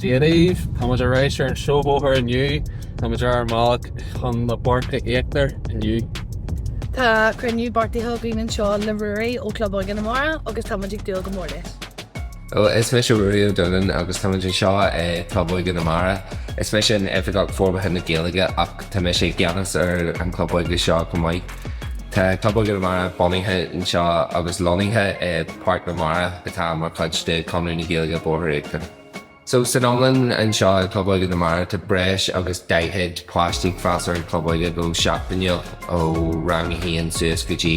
Dia daoibh! Táimid ar ais ar an seó bóthair inniu. Táimid ar ár mbealach chun na Páirce Íochtair inniu. Tá cruinniú beartaithe againn anseo le Ruairí ó Club Óige na Mara agus táimid ag dúil go mór leis. Hello, is mise Ruairí Ó Donnáin agus táimid anseo i gClub Óige na Mara. Is mise an tOifigeach Forbartha na Gaeilge ach tá mise i gceannas ar an Chlub Óige seo chomh maith. Tá Club Óige na Mara bunaithe anseo agus lonnaithe i Páirc na Mara atá mar chuid de Chonradh na Gaeilge Boirche Íochtar. So san iomlán anseo i gClub Óige na Mara tá breis agus 40 páiste ag freastal ar an Chlub Óige go seachtainiúil ó rang a haon suas go dtí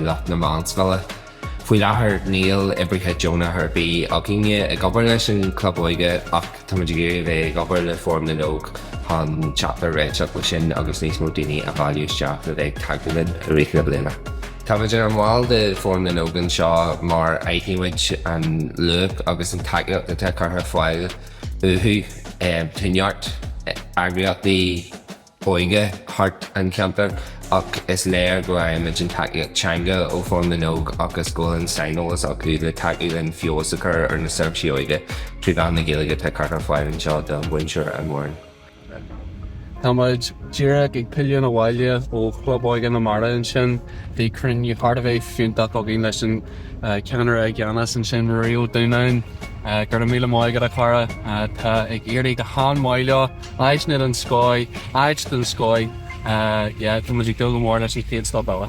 lucht na meánscoile. Faoi láthair níl oibrithe deonacha ar bith againne ag obair leis an Chlub Óige ach táimid ag dul a bheith ag obair le Fóram na nÓg chun teacht ar réiteach leis sin agus níos mó daoine a bhailiú isteach le bheith ag tacú linn i rith na bliana. Táimid inár mball de Fóram na nÓg anseo mar aithnímid an luach agus an tacaíocht atá curtha ar fáil uathu tá neart eagraíochtaí, óige thart an cheantar ach is léir go bhfaighimid an tacaíocht teanga ó Fhóram na nÓg agus go bhfuil an saineolas acu le tacú linn feabhas a chur ar na seirbhísí óige trí mheán na Gaeilge atá curtha ar fáil anseo do mhuintir an Mhúrn. Táimid díreach ag pilleadh abhaile ó Chlub Óige na Mara ansin. Bhí cruinniú thar a bheith fiúntach againn leis an cheannaire i gceannas ansin, Ruairí Ó Donnáin. Go raibh míle maith agat, a chara. Tá ag éirí go han-mhaith leo. Áit na don scóig, áit don scóig, yeah, tá muid ag dúil go mór leis an chéad stop eile.